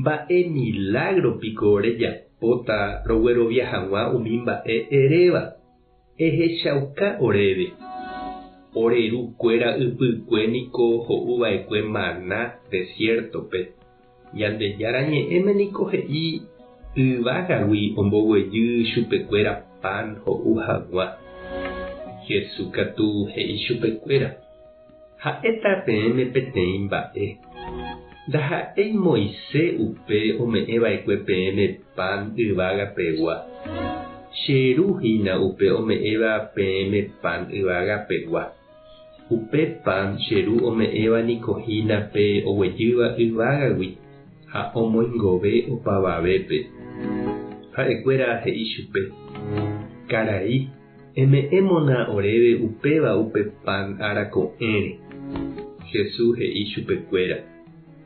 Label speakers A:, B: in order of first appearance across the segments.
A: Mba'e milágro piko rejapóta roguerovia hag̃ua umi mba'e eréva? Ehechauka oréve. Ore ru kuéra ypykue niko ho'u va'ekue maná desiértope. Ñandejára Ñe'ẽme niko he'i yvágagui omboguejy chupekuéra pan ho'u hag̃ua. Jesús katu he'i chupekuéra. Ha'éta peẽme peteĩ mba'e. Ndaha'éi Moise upe ome'ẽ va'ekue peẽme pan yvága pegua. Che Ru hína upe ome'ẽva peẽme pan yvága pegua. Upe pan che Ru ome'ẽva niko hína pe oguejýva yvágagui ha omoingove opavavépe. Ha'ekuéra he'i chupe, Karai, Eme'ẽmona oréve upéva upe pan ára ko'ẽre. Jesús he'i chupekuéra,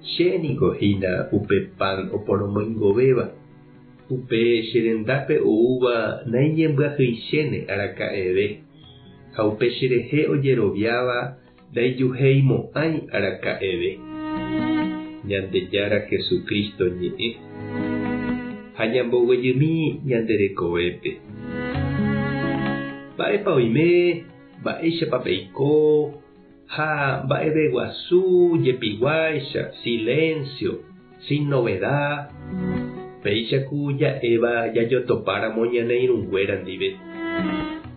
A: Che niko hína upe pan oporomoingovéva. Upe che rendápe oúva naiñembyahýichéne araka'eve, ha upe cherehe ojeroviáva Ndaijuhéimo'ãi araka'eve Ñandejára Jesucristo ñe'ẽ ha ñamboguejymi ñande rekovépe. Mba'épa oime, mba'éichapa peiko ha mba'eveguasu jepiguáicha, silencio. Sin novedad, péicha ku ja'éva jajotopáramo ñane irũnguéra ndive.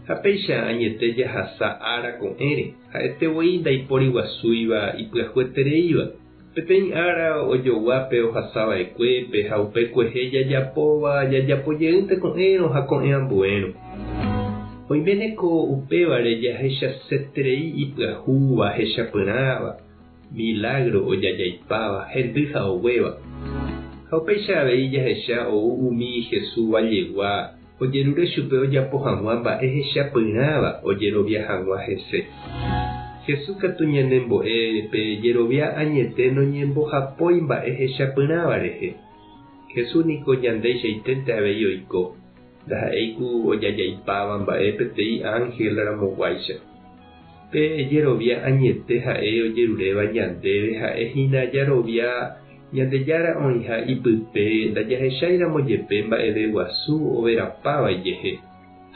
A: Ha péicha añete jahasa ára ko'ẽre, ha'ete voi ndaipóri guasúiva ipyahuetereíva. Peteĩ ára ojogua pe ohasa va'ekuépe ha upe kuehe jajapóva jajapo jeýnte ko'ẽrõ ha ko'ẽ ambuérõ. Oiméne ko upévare jahechaseterei ipyahu, vahechapyrãva, Milágro ojaja'ipáva, hendy ha oguéva. Ha upéicha avei jahecha ou umi Jesús vajegua ojerure chupe ojapo hag̃ua mba'e hechapyrãva ojerovia hag̃ua hese. Jesús katu ñanembo'e pe jerovia añete noñembohapói mba'e hechapyrãva rehe. Jesús niko ñandeicháitente avei oiko, ndaha'éi ku ojaja'ipáva mba'e peteĩ ánhel ramoguáicha. Pe jerovia añete ha'e ojeruréva ñandéve ha'e hína jarovia Ñandejára oĩha ipype ndajahecháiramo jepe mba'eve guasu overapa vaijehe.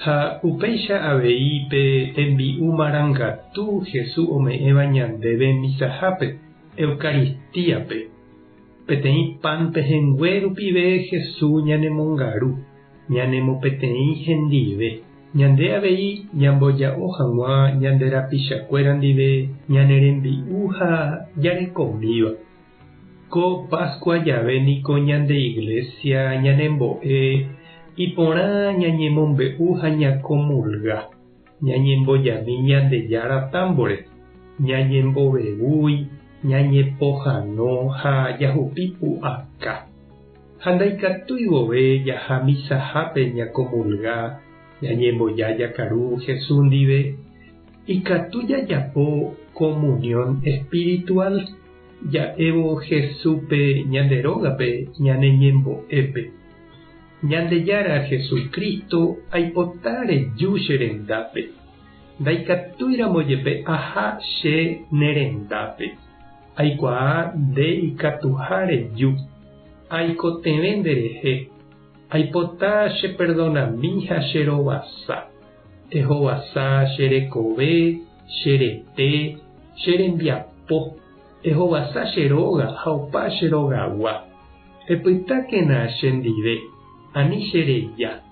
A: Ha upéicha avei pe tembi'u marangatu Jesús ome'ẽva ñandéve misahápe, Eucaristíape. Peteĩ pan pehẽngue rupive Jesús ñanemongaru, ñanemopeteĩ hendive. Ñande avei ñamboja'o hag̃ua ñande rapichakuéra ndive ñane rembi'u ha jarekomíva. Ko Pascua jave niko ñande Iglesia ñanembo'e iporã ñañemombe'u ha ñakomulga, ñañembojami Ñandejára támbore, ñañembovevúi, ñañepohano ha jahupi pu'aka. Ha ndaikatúi vove jaha misahápe ñakomulga ñañemboja jakaru Jesús ndive, ikatu jajapo komunión espiritual ja'évo Jesúspe ñande rógape ñane ñembo'épe. Ñandejára Jesucristo aipota reju che rendápe, ndaikatúiramo jepe aha che ne rendápe. Aikuaa nde ikatuha reju. Aikotevẽ nde rehe. Aipota che perdonami ha che rovasa. Ehovasa che rekove, che rete, che rembiapo. Ehovasa che róga ha opa che rogagua. Epytákena che ndive, ani che reja.